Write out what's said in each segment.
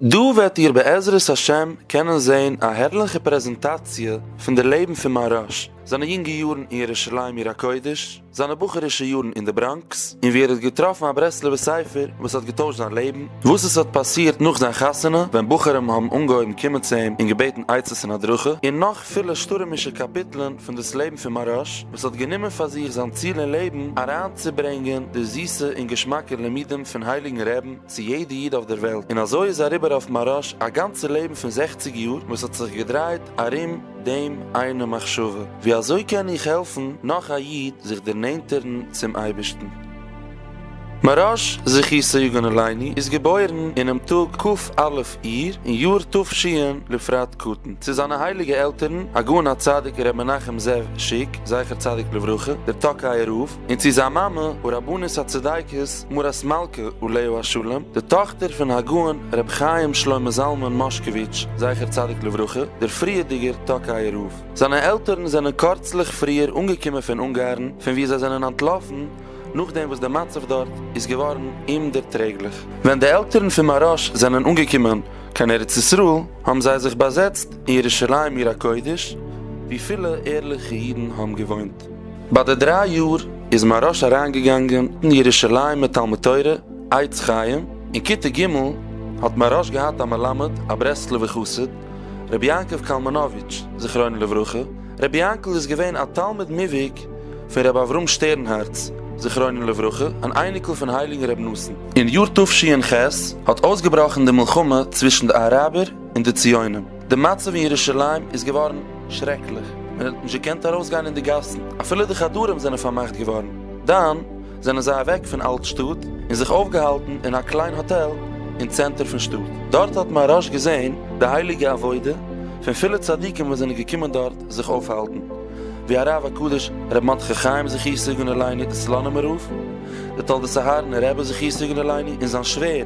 דא וועט איר בעזרת השם קענען זען א הערליכע פרעזענטאציע פון די לעבן פון מהרש, זיינע יונגע יארן אין ירושלים עיר הקודש, זיינע בחור'ישע יארן אין די בראנקס, און ווי ער האט געטראפן א ברסלב'ע ספר וואס האט געטוישט זיין לעבן, וואס עס האט פאסירט נאך זיין חתונה ווען בחורים האבן אנגעהויבן קומען צו אים און געבעטן עצות און הדרכה, און נאך פילע שטורעמישע קאפיטלען פון דאס לעבן פון מהרש, וואס האט גענומען פאר זיך זיין ציל אין לעבן אריינצוברענגען די זיסע און געשמאקע לימודים פון הייליגן רעבן, צו יעדע איד אויף דער וועלט, און אזוי איז אריבער אויף מהראש א גאנצע לעבן פון זעכציג יאר וואס האט זיך געדרייט ארום דעם איינע מחשבה, ווי אזוי קען איך העלפן נאך א איד זיך דערנענטערן צום אייבערשטן. מהראש זכי' סעיגון עליני איז געבוירן אינעם טאג כ א אייר אין יאר תשי א לפרט קטן צו זיינע הייליגע עלטערן הגאון הצדיק ר' מנחם זאב שיק זכר צדיק לברכה דער טאקייער רב, און צו זיין מאמע הרבנית הצדיקת מרת מלכה אליהו השלם, די טאכטער פון הגאון ר' חיים שלמה זלמן מאשקאוויטש זכר צדיק לברכה, דער פריערדיגער טאקייער רב. זיינע עלטערן זענען קורצליך פריער אנגעקומען פון אונגארן, פון וואו זיי זענען אנטלאפן נאכדעם וואס די מצב דארט איז געווארן אומדערטרעגליך. ווען די עלטערן פון מהרש א זענען אנגעקומען קיין ארץ ישראל, האבן זיי זיך באזעצט אין ירושלים עיר הקודש, וואו פילע ערליכע אידן האבן געוואוינט. ביי די דריי יאר איז מהרש אריינגעגאנגען אין ירושלימ'ער תלמוד תורה עץ חיים, אין כיתה ג' האט מהרש געהאט א מלמד א ברסלב'ער חסיד, רבי יעקב קאלמאנאוויטש זכרונו לברכה, רבי יענקל איז געווען א תלמיד מובהק פון רבי אברהם שטערנהארץ זכרונו לברכה, אן אייניקל פון הייליגן רבי נתן. אין יאר תשי ח האט אויסגעבראכן די מלחמה צווישן די אראבער און די ציונים. די מצב אין ירושלים איז געווארן שרעקליך, מען האט נישט געקענט ארויסגיין אין די גאסן, אפילו די חדרים זענען פארמאכט געווארן. דאן זענען זיי אוועק פון אלט-שטאט און זיך אויפגעהאלטן אין א קליין האטעל אין צענטער פון שטאט. דארט האט מהרא ש געזען די הייליגע עבודה פון פילע צדיקים וואס זענען געקומען דארט זיך אויפהאלטן, ווי הרב הקדוש רבי מרדכי חיים זכי' סגנ עליני, די סלאנימער רב, די תולדות אהרן רבי זכי' סגנ עליני, און זיין שווער,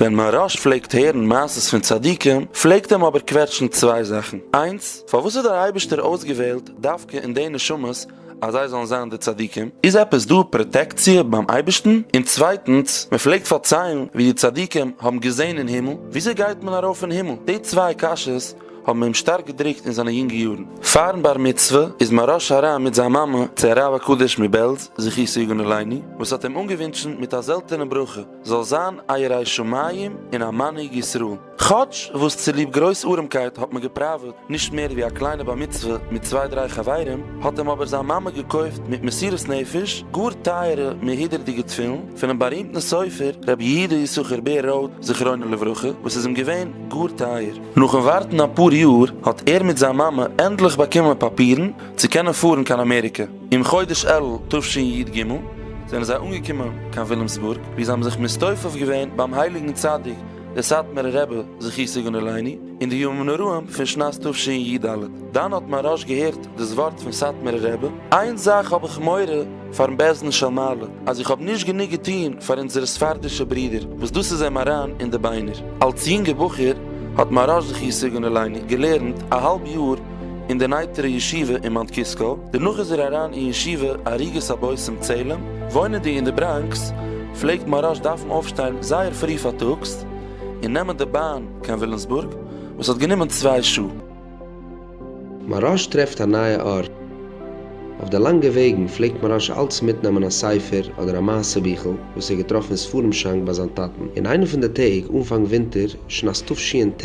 ווען מהרש פלעגט הערן מעשות פון צדיקים פלעגט אים אבער קוועטשן צוויי זאכן, איינס, פארוואס האט דער אייבערשטער אויסגעוועלט דווקא אין די נשמות אז זיי זאלן זיין די צדיקים, איז עפעס דא פראטעקציע ביים אייבערשטן? און צווייטנס, מען פלעגט פארציילן ווי די צדיקים האבן געזען אין הימל, וויאזוי גייט מען ארויף אין הימל? די צוויי קשיות האבן אים שטארק געדרוקט אין זיינע יונגע יארן. פארן בר מצוה איז מהרש אריין מיט זיין מאמע צו הרב הקדוש מבעלז זכותו יגן עלינו וואס האט אים אנגעווינטשן מיט א זעלטענע ברכה, זאל זיין א ירא שמים און א מנהיג ישראל. כאטש וואס צוליב גרויס ארעמקייט האט מען געפראוועט נישט מער ווי א קליינע בר מצוה מיט צוויי דריי חברים, האט אים אבער זיין מאמע געקויפט מיט מסירות נפש גאר טייערע מהודר'דיגע תפילין פונעם בארימטן סופר רבי יהודה יששכר בער ראוד זכרונו לברכה וואס איז אים געווען גאר טייער. נאכן ווארטן אפאר יאר האט ער מיט זיין מאמע ענדליך באקומען פאפירן צו קענען פארן קיין אמעריקע. אין חודש אלול תשנ י ג זענען זיי אנגעקומען קיין ווילימסבורג וואו זיי האבן זיך מסתופף געווען ביים הייליגן צדיק דער סאטמארער רבי זכותו יגן עלינו אין די ימים נוראים פון שנת תשנ י ד. דאן האט מיין רש ג געהערט דאס ווארט פון סאטמארער רבי, איין זאך האב איך מורא פאר'ן בעזן של מעלה, אז איך האב נישט גענוג געטון פאר אונזערע ספרדישע ברודער, וואס דאס איז אים אריין אין די ביינער. אלס יונגער בחור האט מיין רש זכותו יגן עלינו געלערנט א האלב יאר אין די נייטרא ישיבה אין מאונט קיסקא, דערנאך איז ער אריין אין ישיבה עריגת הבושם צעלים, וואוינענדיג אין די בראנקס פלעגט מהרש דארפן אויפשטיין זייער פרי פארטאגס און נעמען די באן קיין ווילימסבורג וואס האט גענומען צוויי שעה. מהרש טרעפט א נייע ארט. אויף די לאנגע וועגן פלעגט מהרש אלץ מיטנעמען א ספר אדער א מעשה ביכל וואס ער האט געטראפן אין ספרים שאנק ביי זיין טאטן. אין איינע פון די טעג אנפאנג ווינטער שנת תשנ ט,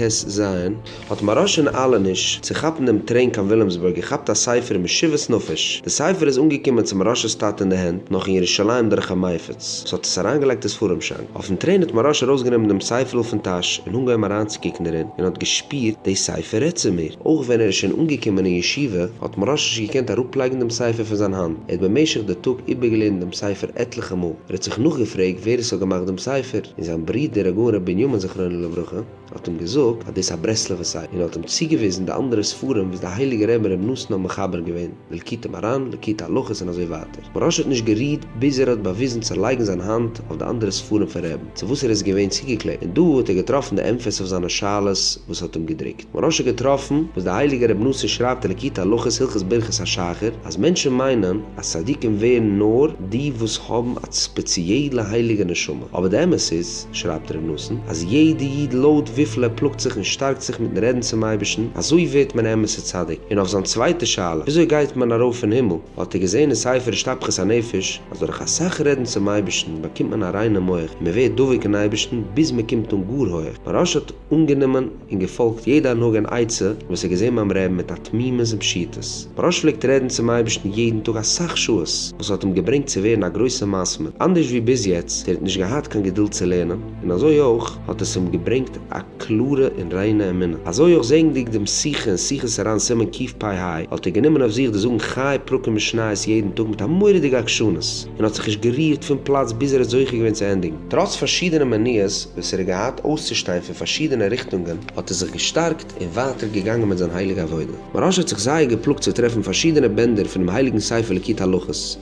האט מרא שוין אהלע נישט צו כאפן דעם טרעין קיין וויליאמסבורג געכאפט א ספר משיבת נפש, די ספר איז אנגעקומען צו מרשה'ס טאטע אין די הענט נאך אין ירושלים דורך א מייפץ וואס האט עס אריינגעלייגט אין ספרים שאנק, אויפן טרעין האט מרא ש ארויסגענומען דעם ספר'ל פון טאש און אנגעהויבן אריינצוקוקן דערין און האט געשפירט די ספר רעדט צו מיר, אויך ווען ער איז שוין אנגעקומען אין ישיבה האט מרא ש נישט געקענט אראפלייגן דעם ספר פון זיין האנט, ער האט במשך די טאג איבערגעלערנט דעם ספר עטליכע מאל, ער האט זיך נאכגעפרעגט ווער עס האט געמאכט דעם ספר, און זיין ברודער הגאון ר' בנימין זכרונו לברכה. האט אים געזאגט אז דאס איז א ברסלב'ע ספר און האט אים צוגעוויזן די אנדערע ספרים וואס די הייליגע רבי רבי נתן האבן מחבר געווען, די ליקוטי מרן, ליקוטי הלכות און אזוי ווייטער. מוהרא ש האט נישט גערוהט ביז ער האט באוויזן צו לייגן זיין האנט אויף די אנדערע ספרים פון רעבן צו וואס ער איז געווען צוגעקלעבט און דא האט ער געטראפן די ענפערס אויף זיינע שאלות וואס האט אים געדרוקט. מוהרא ש האט געטראפן וואס די הייליגע רבי נתן שרייבט אין ליקוטי הלכות הלכות ברכת השחר אז מענטשן מיינען אז צדיקים ווערן נאר די וואס האבן א ספעציעלע הייליגע נשמה אבער די אמת איז שרייבט ר' נתן אז יעדע איד לויט וויפיל ער פלאגט זיך און שטארקט זיך מיטן רעדן צום אייבערשטן אזוי ווערט מען א אמת'ע צדיק, און אויף זיין צווייטע שאלה וויאזוי גייט מען ארויף אין הימל האט ער געזען אין ספר השתפכות הנפש אז דורך אסאך רעדן צום אייבערשטן באקומט מען א ריינע מח און מען ווערט דבוק אין אייבערשטן ביז מען קומט אן גאר הויעך, מהרש א האט אנגענומען. און געפאלגט יעדע הנהגה און עצה וואס ער האט געזען ביים רעבן מיט א תמימות און פשיטות. מוהראש פלעגט רעדן צום אייבערשטן יעדן טאג אסאך שעות, וואס האט אים געברענגט צו ווערן א גרויסער מסמר, אנדערש ווי ביז יעצט, ער האט נישט געהאט קיין געדולד צו לערנען, און אזוי אויך האט עס אים געברענגט א קלארע און ריינע אמונה. אזוי אויך זעענדיג דעם שיחה אין שיחות הר ן סימן קיף פ ה, האט ער גענומען אויף זיך די זאגן חי פרקים משניות יעדן טאג מיט א מורא'דיגע עקשנות, און האט זיך נישט גערירט פון פלאץ ביז ער האט זוכה געווען צו ענדיגן. טראץ פארשידענע מניעות וואס ער האט געהאט אויסצושטיין פון פארשידענע ריכטונגען, האט ער זיך געשטארקט און ווייטער געגאנגען מיט זיין הייליגע עבודה. מוהראש האט זיך זייער געפלאגט צו טרעפן פארשידענע בענדער פונעם הייליגן ספר ליקוט הלכות,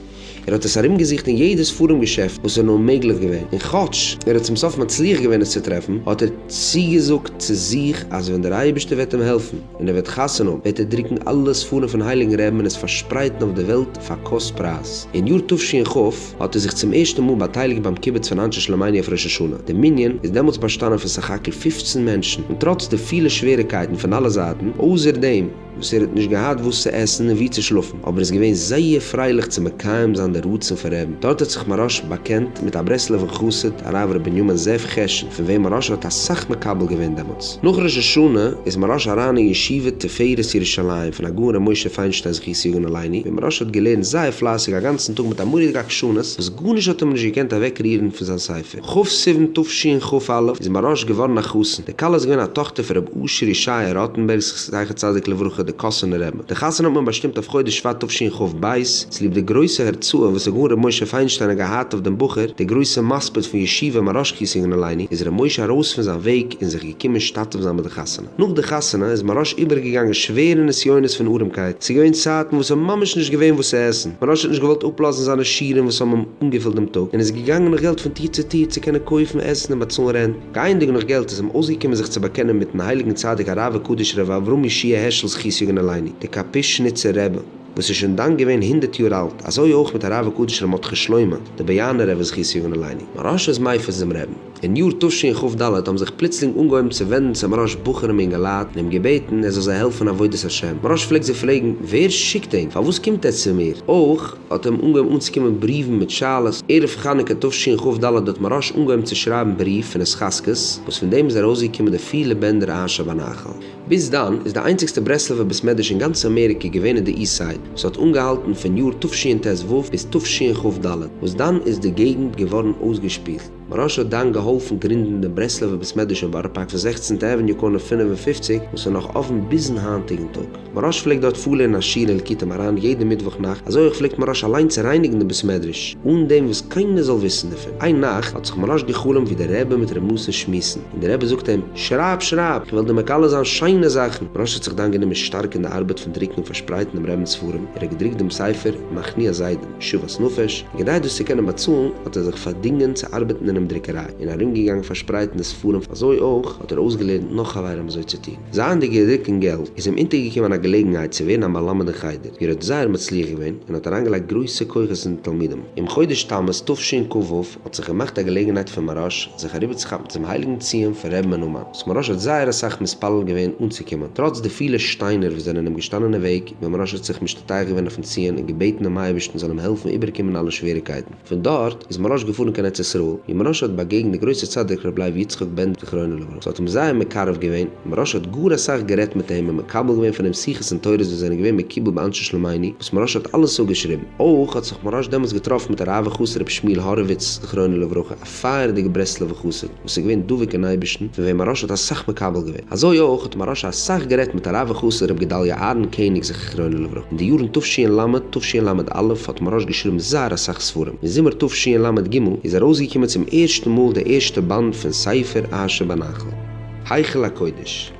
ער האט עס ארומגעזוכט אין יעדע ספרים געשעפט וואס איז נאר מעגליך געווען, און כאטש ער האט צום סוף מצליח געווען עס צו טרעפן, האט ער צוגעזאגט צו זיך אז ווען דער אייבערשטער וועט אים העלפן, ווען ער וועט חתונה האבן וועט ער דרוקן אלע ספרים פון הייליגן רעבן און עס פארשפרייטן אויף די וועלט פאר קאסט פרייז. אין יאר תשכ ח האט ער זיך צום ערשטן מאל באטייליגט ביים קיבוץ פון אנשי שלומינו אויף ראש השנה. די מנין איז דעמאלטס באשטאנען פון סך הכל פֿופֿצן מענטשן און טראץ די פילע שוועריקייטן פון אלע זייטן, אויסער דעם וואס ער האט נישט געהאט וואס צו עסן און וואו צו שלאפן, אבער איז געווען זייער פרייליך צו מקיים זיין די רצון פון רעבן, דארט האט זיך מהרא ש באקענט מיט א ברסלב'ער חסיד הרב ר' בנימין זאב חשין פון וועם מהרא ש האט אסאך מקבל געווען דעמאלטס. נאך ראש השנה איז מהרא ש אריין אין ישיבה תפארת ירושלים פון הגאון ר' משה פיינשטיין זכות יגון עלינו, ווי מהרא ש האט געלערנט זייער פלייסיג א גאנצן טאג מיט א מורא'דיגע עקשנות וואס גארנישט האט אים נישט געקענט אוועקרירן פון זיין ספר. כ' סיוון תשנ ח איז אין באראש געווארן א חתן, די כלה איז געווען א טאכטער פון רבי אשר ישעי' ראטענבערג זכר צדיק לברכה די קאסאנער רבי, די חתונה האט מען באשטימט אויף חודש שבט תשנ ח ב צוליב די גרויסע הורצאה וואס הגאון רבי משה פיינשטיין האט געהאט אויף דעם בחור, דער גרויסע מספיד פון ישיבה מאראש קיסינג אין אלייני, איז רבי משה ארויס פון זיין וועג און זיך געקומען משתתף זיין ביי די חתונה. נאך די חתונה איז מרש איבערגעגאנגען שווערע נסיונות פון ארעמקייט, ס'איז געווען צייטן וואס ס'האט ממש נישט געווען וואס צו עסן, מרש האט נישט געוואלט אפלאזן זיינע שירעם וואס האבן אים אנגעפילט דעם טאג, און איז געגאנגען נאך געלט פון טיר צו טיר צו קענען קויפן עסן און באצאלן רענט, גייענדיג נאך געלט איז אים אויסגעקומען זיך צו באקענען מיטן הייליגן צדיק הרב הקדוש ר' אברהם ישעי' העשל זכות יגן עלינו, דער קאפישניצער רבי, וואס איז שוין דאן געווען הונדערט יאר אלט, אזוי אויך מיט הרב הקדוש ר' מרדכי שלמה, דער באיאנער רבי זכות יגן עלינו, מרש איז מייפערס דעם רעבן. אין יאר תשי ח ד האבן זיך פלוצלינג אנגעהויבן צו ווענדן צו מרש בחורים אינגעלייט און אים געבעטן ער זאל זיי העלפן עבודת השם. מרש פלעגט זיי פרעגן, ווער שיקט אים? פארוואס קומט ער צו מיר? אויך האט אים אנגעהויבן אנצוקומען בריוון מיט שאלות. ערב חנוכה תשי ח ד האט מרש אנגעהויבן צו שרייבן בריוו פון התחזקות, וואס פון דעם איז ארויסגעקומען די פיר לבענדער אהן שבנחל. ביז דאן איז די איינציגסטע ברסלב'ע בית מדרש אין גאנץ אמעריקע געווען אין די איסט סייד, וואס האט אנגעהאלטן פון יאר תשי ט ו ביז תשי ח ד, וואס דאן איז די געגנט געווארן אויסגעשפילט. מוהרא ש האט דאן געהאלפן גרינדן דעם ברסלב'ער בית מדרש אין בארא פארק פון זעכצנטע עוועניו קארנער פֿינף און פֿופֿציק וואס איז נאך אפן ביזן היינטיגן טאג. מוהרא ש פלעגט דארט פארלערנען א שיעור אין ליקוטי מרן יעדע מיטוואך נאכט, אזוי אויך פלעגט מוהרא ש אליין צו רייניגן דעם בית מדרש אן דעם וואס קיינער זאל וויסן דערפון. איין נאכט האט זיך מוהרא ש גע'חלומ'ט ווי דער רבי מיט ר' מאסן שמועסן, און דער רבי זאגט אים, שרייב שרייב, כ'וועל דיר מגלה זיין שיינע זאכן. מוהרא ש האט זיך דאן גענומען שטארק אין די ארבעט פון דרוקן און פארשפרייטן דעם רבינ'ס ספרים, ער האט געדרוקט דעם ספר מכניע זיידען, שוות נפש, און כדי דאס צו קענען באצאלן האט ער זיך פארדינגען צו ארבעטן אינעם דרוקעריי און ארומגעגאנגען פארשפרייטן די ספרים, אזוי אויך האט ער אויסגעלערנט נאך חברים אזוי צו טון. זייענדיג געריקט אין געלט איז אים אונטערגעקומען א געלעגנהייט צו ווערן א מלמד אין חדר, ווי ער האט זייער מצליח געווען און האט אריינגעלייגט גרויסע כוחות אין די תלמידים. אום חודש תמוז תשנ ק וו האט זיך געמאכט א געלעגנהייט פאר מהרש א זיך אריבערצוכאפן צום הייליגן ציון פון ר' מנומן, וואס מהרש א האט זייער אסאך מתפלל געווען אנצוקומען, טראץ די פילע שטיינער וואס זענען אים געשטאנען אין וועג, ווען מרש האט זיך משתטח געווען אויפן ציון און געבעטן דעם אייבערשטן זאל אים העלפן איבערקומען אלע שוועריקייטן. פון דארט איז מרש געפארן קיין ארץ ישראל, ווי מרש האט באגעגנט די גרויסע צדיק רבי לייב יצחק בענדער זכרונו לברכה, ס'האט אים זייער מקרב געווען, מרש האט גאר אסאך גערעדט מיט אים און מקבל געווען פון אים שיחות און תורות וואס זענען געווען מקובל ביי אנשי שלומינו, וואס מרש האט אלעס אפגעשריבן. אויך האט זיך מרש דעמאלס געטראפן מיט הרב וחסיד רבי שמואל האראוויץ זכרונו לברכה, פייערדיגע ברסלב'ע חסיד וואס איז געווען דבוק אין אייבערשטן, פון וועם מהרש האט אסאך מקבל געווען. אזוי אויך האט מהרש א אסאך גערעדט מיט הרב וחסיד ר' גדליה אהרן קעניג זככרונו לברכה. אין די יארן תשי ל, תשי ל א האט מהרש געשריבן זייער אסאך ספרים. אין זומער תשי ל ג איז ארויסגעקומען צום ערשטן מאל די ערשטע באנד פון ספר אהה שבנחל, היכל הקודש.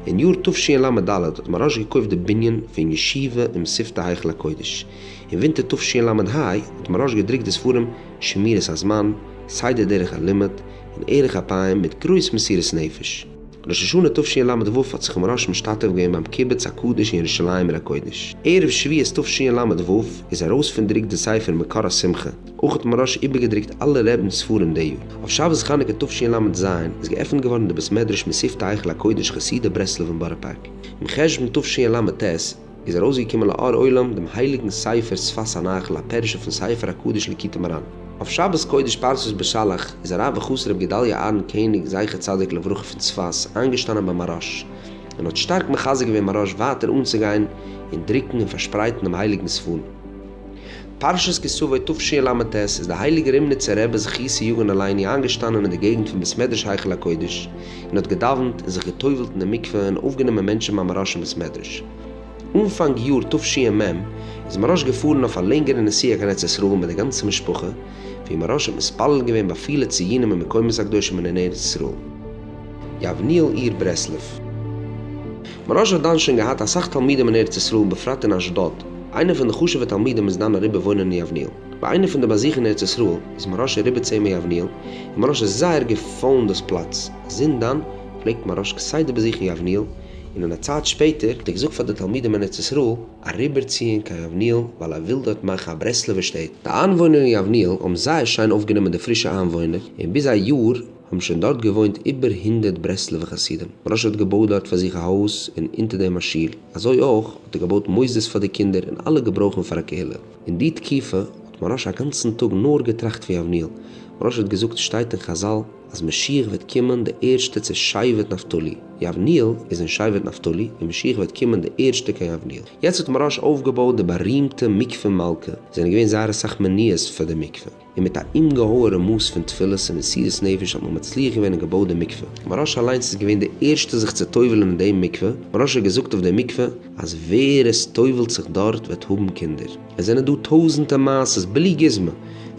אין יאר תשי ל ד האט מהרש געקויפט די בנין פון ישיבה אום שפת היכל הקודש. אין ווינטער תשל ה האט מהראש געדרוקט די ספרים שמירת הזמן, סדר דרך הלימוד, און ערך אפיים מיט גרויס מסירות נפש. ראש השנה תשל ו האט זיך מהראש משתתף געווען ביים קיבוץ הקדוש אין ירושלים עיר הקודש. ערב שביעות תשל ו איז ארויס פון דרוק די ספר מקור השמחה. אויך האט מהראש איבערגעדרוקט אלע רעבינ'ס ספרים די יאר. אויף שבת חנוכה תשל ז איז געעפנט געווארן די בית מדרש מסיפתא היכל הקודש חסידי ברסלב אין בארא פארק. אום חשון תשל ט, איז ארויסגעקומען לאור עולם דעם הייליגן ספר שפת הנחל א פירוש אויפן ספר הקדוש ליקוטי מרן. אויף שבת קודש פרשת בשלח איז הרב וחתן רבי גדליה אהרן קעניג זכר צדיק לברכה פון צפת איינגעשטאנען ביי מהרש ן און האט שטארק מחזק געווען מהרש ווייטער אנצוגיין און דרוקן און פארשפרייטן דעם הייליגן ספר פרשת כי סבא תשי ל ט איז די הייליגע רימניצער רבי זכי' יגן עלינו איינגעשטאנען אין די געגנט פון בית מדרש היכל הקודש און האט געדאווענט און זיך געטובל'ט אין די מקווה און אויפגענומען מענטשן ביים מרש'ן בית מדרש. אנפאנג יאר תשי מ איז מרש געפארן אויף א לענגערע נסיעה קיין ארץ ישראל מיט די גאנצע משפחה, ווי מרש האט מתפלל געווען ביי פילע ציונים און מקומות הקדושים אין אין ארץ ישראל, יבניאל עיר ברסלב. מרש האט דאן שוין געהאט אסאך תלמידים אין ארץ ישראל בפרט אין אשדוד, איינע פון די חשובע תלמידים איז דאן אריבער וואוינען אין יבניאל. ביי איינע פון די באזוכן אין ארץ ישראל איז מוהרא ש אריבער צו אים אין יבניאל, און מוהרא ש האט זייער געפאלן דאס פלאץ. זינט דאן פלעגט מוהרא ש כסדר באזוכן יבניאל, און אין א צייט שפעטער האט ער געזאגט פאר די תלמידים אין ארץ ישראל אריבערציען קיין יבניאל ווייל ער וויל דארט מאכן א ברסלב'ער שטעטל. די איינוואוינער אין יבניאל האבן זייער שיין אויפגענומען די פרישע איינוואוינער, און ביז א יאר, האבן שוין דארט געוואוינט איבער הונדערט ברסלב'ע חסידים, ר' האט געבויט דארט פאר זיך א הויז און אונטער דעם א שול, אזוי אויך האט ער געבויט מוסדות פאר די קינדער און אלע געברויכן פאר א קהילה. אין די תקופה האט מרן א גאנצן טאג נאר געטראכט ווי אבני'ל, מרן האט געזאגט שטייט אין חזל אז משיח וועט קומען די ערשטע צו שבט נפתלי, יבניאל איז אין שבט נפתלי און משיח וועט קומען די ערשטע קיין יבניאל. יעצט האט מרן אויפגעבויט די בארימטע מקווה מלכה, עס זענען געווען זייער אסאך מניעות פאר די מקווה, און מיט א אומגעהויערע מאס פון תפילות און מסירות נפש האט מען מצליח געווען און געבויט די מקווה, מוהרא ש אליינס איז געווען די ערשטע זיך צו טובל'ן אין דעם מקווה, מוהרא ש האט געזאגט אויף די מקווה אז ווער עס טובל'ט זיך דארט וועט האבן קינדער, עס זענען דא טויזענטע מעשות בלי גוזמא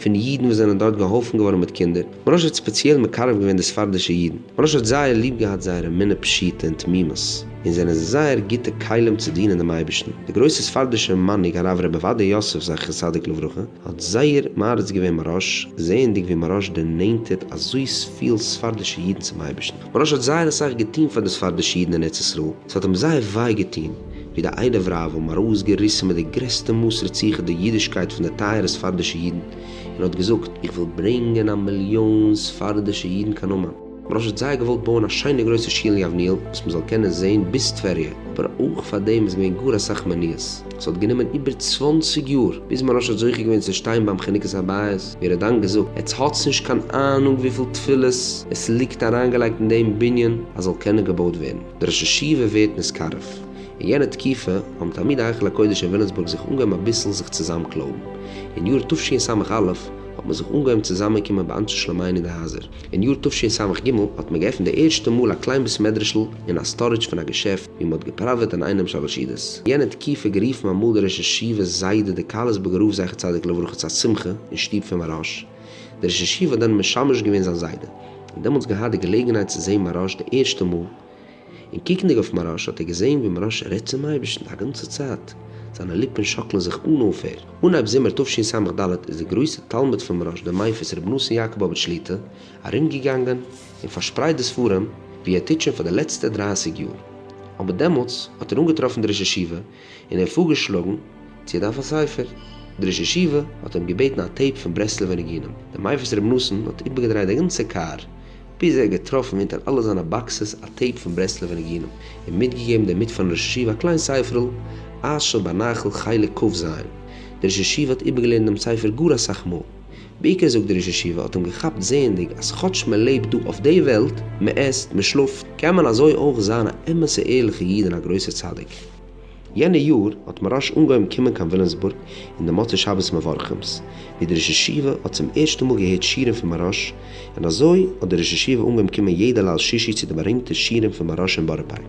פון אידן וואס זענען דארט געהאלפן געווארן מיט קינדער, מוהרא ש האט ספעציעל מקרב געווען די ספרדישע אידן, מוהרא ש האט זייער ליב געהאט זייער אמונה פשוטה און תמימות, און זענען זיי זייער גוטע כלים צו דינען דעם אייבערשטן, די גרויסע ספרדישע מנהיג הרב ר' עובדיה יוסף זכר צדיק לברכה, האט זייער מעריץ געווען מרש, זעענדיג ווי מרש דערנענטערט אזוי פיל ספרדישע אידן צום אייבערשטן. מרש האט זייער אסאך געטון פאר די ספרדישע אידן אין ארץ ישראל, ס'האט אים זייער וויי געטון ווי די איידעווער האבו אים ארויסגעריסן מיט די גרעסטע מאס רציחה די אידישקייט פון די טייערע ספרדישע אידן, און האט געזאגט, איך וויל ברענגען א מיליאן ספרדישע אידן קיין אומאן. מ'רש האט זייער געוואלט בויען א שיינע גרויסע שול יבניאל וואס מ'זאל קענען זעהן ביז טבריה, אבער אויך פאר דעם איז געווען גאר אסאך מניעות. ס'האט גענומען איבער צוואנציג יאר ביז מ'רש האט זוכה געווען צו שטיין ביים חנוכת הבית, ווי ער האט דאן געזאגט, עטס האטס נישט קיין אהנונג וויפיל תפילות עס ליגט אריינגעלייגט אין דעם בנין אז זאל קענען געבויט ווערן. דער ראש ישיבה ווערט נשכרף. אין יענע תקופה האבן תלמידי היכל הקודש אין ווילימסבורג זיך אנגעהויבן אביסל זיך צוזאמקלויבן. אין יאר תשי ס א האט מען זיך אנגעהויבן צוזאמענקומען באנשי שלומינו די הייזער. אין יאר תשי ס ג האט מען געעפנט די ערשטע מאל א קליין בית מדרש'ל אין א סטארידזש פון א געשעפט ווי מען האט געפראוועט אינאיינעם שלש אידות. אין יענע תקופה גערופן אמאל די ראש ישיבה זיידע דקהלת באגראוו זכר צדיק לברכה צו א שמחה אין שטוב פון מהראש. די ראש ישיבה האט דאן משמש געווען זיין זיידע. און דעמאלטס געהאט די געלעגנהייט צו זעהן מהראש די ערשטע מאל. און קוקנדיג אויף מוהראש האט ער געזען ווי מוהראש רעדט צום אייבערשטן א גאנצע צייט, זיינע ליפן שאקלען זיך אן אויפהער. אנהייב זומער תשי ס ד איז דער גרויסער תלמיד פון מוהראש דער מייפעס רבי נתן יאקאבאוויטש שליט א ארומגעגאנגען און פארשפרייט די ספרים ווי ער טוט שוין פאר די לעצטע דרייסיג יאר, אבער דעמאלטס האט ער אנגעטראפן די ראש ישיבה, און ער האט פארגעשלאגן צו ער דארף א ספר. דער ראש ישיבה האט אים געבעטן א טעיפ פון ברסלב'ע ניגונים. דער מייפערס רב נתן האט איבערגעדרייט די גאנצע קאר, ביז ער האט געטראפן אונטער אלע זיינע באקסעס א טעיפ פון ברסלב'ע ניגונים, און מיטגעגעבן דערמיט פארן ראש ישיבה א קליין ספר'ל, אש שבנחל חלק ק ז. דער ראש ישיבה האט איבערגעלערנט דעם ספר גאר אסאך מאל. בעיקר זאגט דער ראש ישיבה האט אים געכאפט זעענדיג אז כאטש מען לעבט דא אויף די וועלט, מען עסט, מען שלאפט, קען מען אזוי אויך זיין א אמת'ע ערליכע איד און א גרויסער צדיק. יענע יאר האט מוהראש אנגעהויבן קומען קיין ווילימסבורג אין די מוצאי שבת מברכים'ס, ווי דער ראש ישיבה האט צום ערשטן מאל געהערט שירים פון מוהראש, און אזוי האט דער ראש ישיבה אנגעהויבן קומען יעדע ליל שישי צו די בארימטע שירים פון מוהראש אין בארא פארק.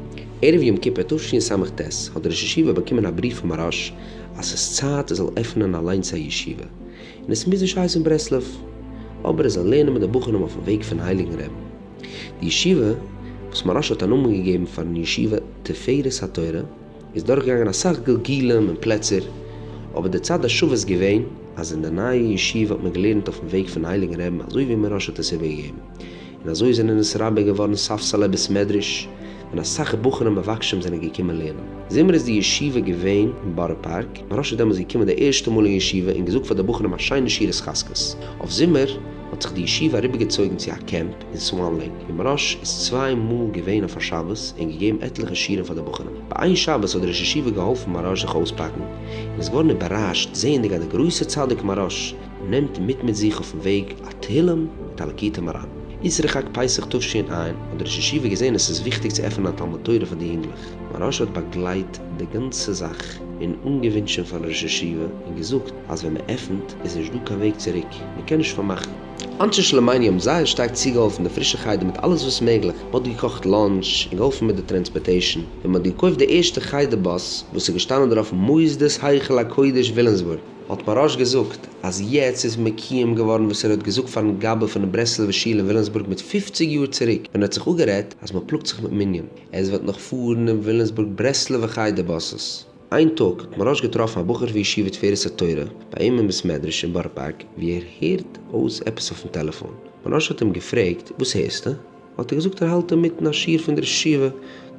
ערב יום כיפור תשס ה האט דער ראש ישיבה באקומען א בריוו פון מוהראש אז ס'איז צייט ער זאל עפענען אליינס א ישיבה, און עס מוז נישט הייסן ברסלב, אבער ער זאל לערנען מיט די בחורים אויפן וועג פון הייליגן רעבן. די ישיבה, וואס מהרש האט א נאמען געגעבן פארן ישיבה תפארת התורה, איז דורכגעגאנגען אסאך גלגולים און פלעצער, אבער די צד השווה איז געווען אז אין די נייע ישיבה האט מען געלערנט אויפן וועג פון הייליגן רעבן אזוי ווי מהרש האט עס איבערגעגעבן. און אזוי זענען עס רבה געווארן ספסלי בית מדרש, און אסאך בחורים מבקשים זענען געקומען לערנען. זומער איז די ישיבה געווען אין בארא פארק, מהרא ש איז דעמאלס געקומען די ערשטע מאל אין ישיבה און געזאגט פאר די בחורים א שיינע שיעור התחזקות. אויף זומער האט זיך די ישיבה אריבערגעצויגן צו א קעמפ אין סוואן לעיק, ווי מהרא ש איז צוויי מאל געווען אויף א שבת און געגעבן עטליכע שיעורים פאר די בחורים. ביי איין שבת האט די ראש ישיבה געהאלפן מהרא ש זיך אויספאקן, און איז געווארן איבערראשט זעענדיג אז די גרויסע צדיק מהרא ש, נעמט מיט מיט זיך אויפן וועג א תהילים מיט א לקיטי מרן. איסרי חג פסח תשענ א האט דער ראש ישיבה געזען עס איז וויכטיג צו עפענען א תלמוד תורה פאר די יונגלעך. מוהרא ש האט באגלייט די גאנצע זאך און אנגעווינטשען פארן ראש ישיבה און געזאגט אז ווען מען עפענט איז נישט דא קיין וועג צוריק, מען קען נישט פארמאכן. אנשי שלומינו האבן זייער שטארק צוגעהאלפן די פרישע חדר מיט אלעס וואס מעגליך, מען האט געקאכט לאנטש און געהאלפן מיט די טרענספארטעישן, און מען האט געקויפט די ערשטע חדר באס וואס איז געשטאנען דערויף מוסדות היכל הקודש ווילימסבורג. האט פרוש געזאגט אז יעצט איז מקיום געווארן וואס ער האט געזאגט פארן גאבע פונעם ברסלב'ע שול אין וויליאמסבורג מיט פופציג יאר צוריק ווען ער האט זיך אפגערעדט אז מען פלאגט זיך מיט מנין עס וועט נאך פארן אין וויליאמסבורג ברסלב'ע חדר באסעס. איין טאג האט פרוש געטראפן א בחור פון ישיבה תפארת התורה ביי אים אין בית מדרש אין בארא פארק ווי ער הערט אויס עפעס אויפן טעלעפאן, פרוש האט אים געפרעגט וואס הערסטו? האט ער געזאגט ער האלט אינמיטן א שיעור פון דער ישיבה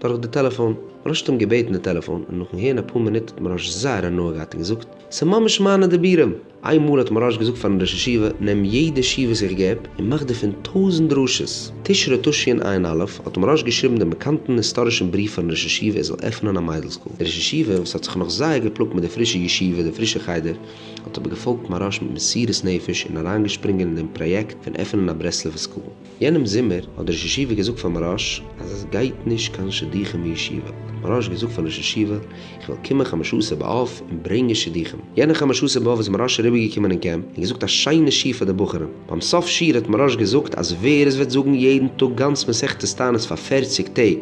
דורך די טעלעפאן. מרש האט אים געבעטן די טעלעפאן און נאכן הערן אפאר מינוט האט מרש זייער הנאה געהאט און געזאגט ס'איז ממש מיינע דיבורים! איין מאל האט מרש געזאגט פארן ראש ישיבה נעם יעדע שיעור וואס איך געב און מאך דערפון טויזנט דרשות! תשרי תשנ ע א' האט מרש געשריבן דעם באקאנטן היסטארישן בריוו פארן ראש ישיבה ער זאל עפענען א מיידל סקול. דער ראש ישיבה וואס האט זיך נאך זייער געפלאגט מיט די פרישע ישיבה די פרישע חדר האט אבער געפאלגט מרש מיט מסירות נפש און אריינגעשפרינגען אין דעם פראיעקט פון עפענען א ברסלב'ע סקול. יענעם זומער האט דער ראש ישיבה געזאגט פאר מוהראש אז עס גייט נישט קיין שידוכים אין ישיבה, האט מוהראש געזאגט פארן ראש ישיבה איך וועל קומען חמשה עשר באב און ברענגען שידוכים, יענע חמשה עשר באב איז מוהראש אריבערגעקומען אין קעמפ און געזאגט א שיינע שיעור פאר די בחורים, ביים סוף שיעור האט מוהראש געזאגט אז ווער עס וועט זאגן יעדן טאג גאנץ מסכת תענית פאר פֿערציק טעג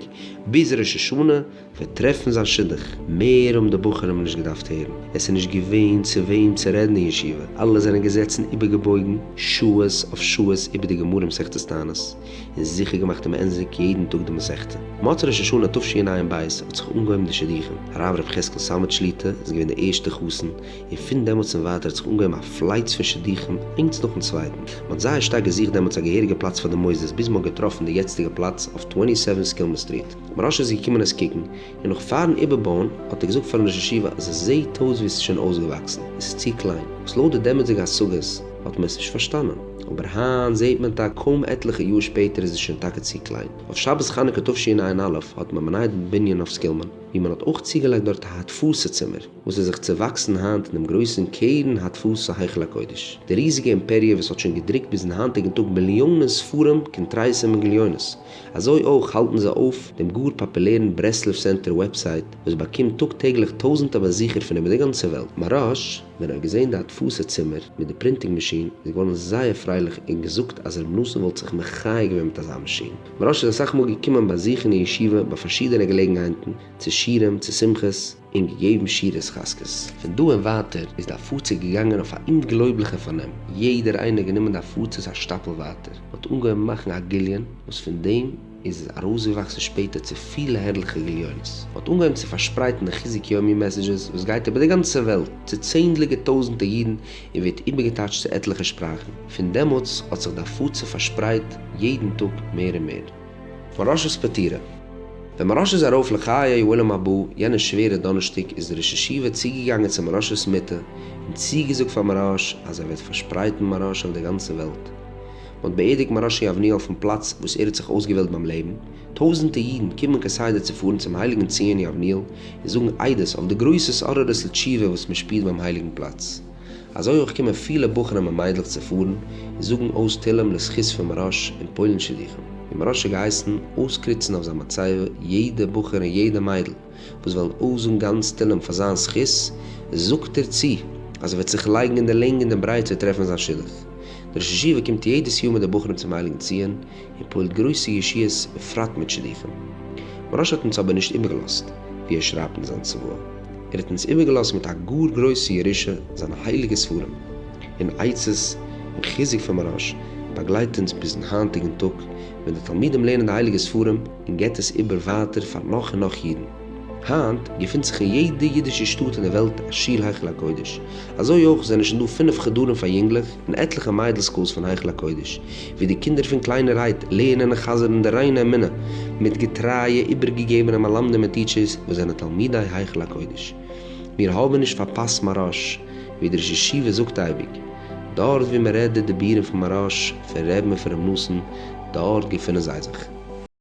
ביז ראש השנה, וועט טרעפן זיין שידוך. מער האבן די בחורים נישט געדארפט הערן, עס איז נישט געווען צו וועם צו רעדן אין ישיבה, אלע זענען געזעצן איבערגעבויגן שעות אויף שעות איבער די גמרא מסכת תענית, און זיכער געמאכט צו מענדזיג יעדן טאג די מסכת. מוצאי ראש השנה תשע ע אין בית האט זיך אנגעהויבן די שידוכים, הרב ר' חזקאל סאמעט שליט א איז געווען די ערשטע חתן, און פון דעמאלטס און ווייטער האט זיך אנגעהויבן א פלייץ פון שידוכים איינס נאכן צווייטן, מען האט זייער שטארק געזוכט דעמאלטס א געהעריגע פלאץ פאר די מוסדות ביז מען האט געטראפן די יעצטיגע פלאץ אויף טווענטי סעווען סקילמען סטריט. ר' אשר איז געקומען עס קוקן, און נאך פארן איבערבויען האט ער געזאגט פארן ראש ישיבה אז עס זעהט אויס ווי עס איז שוין אויסגעוואקסן, עס איז צו קליין, וואס לויט די דעמאלטסדיגע השגות האט מען עס נישט פארשטאנען, אבער היינט זעהט מען טאקע קוים עטליכע יאר שפעטער איז עס שוין טאקע צו קליין. אויף שבת חנוכה תשע"א האט מען באנייט דעם בנין אויף סקילמאן, ווי מען האט אויך צוגעלייגט דארט א הדפסה צימער, וואס איז זיך צעוואקסן היינט אין דעם גרויסן קרן הדפסה היכל הקודש, די ריזיגע אימפעריע וואס האט שוין געדרוקט ביזן היינטיגן טאג מיליאנען ספרים, קונטרסים און גליונות. אזוי אויך האלטן זיי אויף דעם גאר פאפולערן ברסלב סענטער וועבסייט וואס באקומט טאג טעגליך טויזענטער באזוכער פון איבער די גאנצע וועלט. מרש ווען ער האט געזען די הדפסה צימער מיט די פרינטינג מאשין איז געווארן זייער פרייליך און געזאגט אז רבי נתן וואלט זיך מחיה געווען מיט אזא מאשין. מרש איז אסאך מאל געקומען באזוכן אין ישיבה ביי פארשידענע געלעגנהייטן, צו שירים, צו שמחות, און געגעבן שיעור התחזקות. פון דא און ווייטער איז די הפצה געגאנגען אויף א אומגלויבליכע פארנעם, יעדער איינער האט גענומען די הפצות א שטאפל ווייטער, מען האט אנגעהויבן מאכן א גליון, וואס פון דעם איז עס ארויסגעוואקסן שפעטער צו פילע הערליכע גליונות, מען האט אנגעהויבן צו פארשפרייטן די חיזוק יומי מעסעדזשעס וואס גייט איבער די גאנצע וועלט צו צענדליגע טויזנטער אידן און ווערט איבערגעטייטשט צו עטליכע שפראכן, פון דעמאלטס האט זיך די הפצה פארשפרייט יעדן טאג מער און מער. מוהראש'ס פטירה. ווען מוהראש איז ארויף לחיי עולם הבא יענע שווערע דאנערשטאג איז דער ראש ישיבה צוגעגאנגען צו מוהראש'ס מיטה און צוגעזאגט פאר מוהראש אז ער וועט פארשפרייטן מוהראש אויף דער גאנצער וועלט. מ'האט באערדיגט מוהראש אין יבניאל אויפן פלאץ וואס ער האט זיך אויסגעוועלט ביים לעבן. טויזנטער אידן קומען כסדר צו פארן צום הייליגן ציון יבניאל און זאגן עדות אויף די גרויס התעוררות לתשובה וואס מ'שפירט ביים הייליגן פלאץ. אזוי אויך קומען פילע בחורים און מיידלעך צו פארן און זאגן אויס תהלים לזכות פון מהראש און פולן שידוכים, די מהראש האט געהייסן אויסקריצן אויף זיין מצבה יעדע בחור און יעדע מיידל וואס וועלן אויסזאגן גאנץ תהלים פאר זיין זכות, זאגט ער צו אז ער וועט זיך לייגן אין די לענג און די ברייט צו טרעפן זיין שידוך, דער ראש ישיבה קומט יעדעס יאר מיט די בחורים צום הייליגן ציון, און פועלט גרויסע ישועות בפרט מיט שידוכים. מוהרא ש האט אונז אבער נישט איבערגעלאזט, ווי ער שרייבט אין זיין צוואה, ער האט אונז איבערגעלאזט מיט א גאר גרויסע ירושה, זיינע הייליגע ספרים און עצות און חיזוק פון מוהרא ש באגלייט אונז ביזן היינטיגן טאג, ווען די תלמידים לערנען די הייליגע ספרים און געבט עס איבער ווייטער פאר נאך און נאך אידן. היינט געפינט זיך אין יעדע אידישע שטאט אין די וועלט א שול היכל הקודש, אזוי אויך זענען שוין דא פינף חדרים פאר יונגלעך און עטליכע מיידל סקולס פון היכל הקודש, ווי די קינדער פון קליינערהייט לערנען און חזר'ן די ריינע אמונה מיט געטרייע איבערגעגעבענע מלמדים און טיטשערס וואס זענען תלמידי היכל הקודש. מיר האבן נישט פארפאסט מהרש, ווי דער ראש ישיבה זאגט אייביג, דארט וואו מען רעדט די דיבורים פון מהרש, פון ר' אפרים נאסן, דארט געפינען זיי זיך.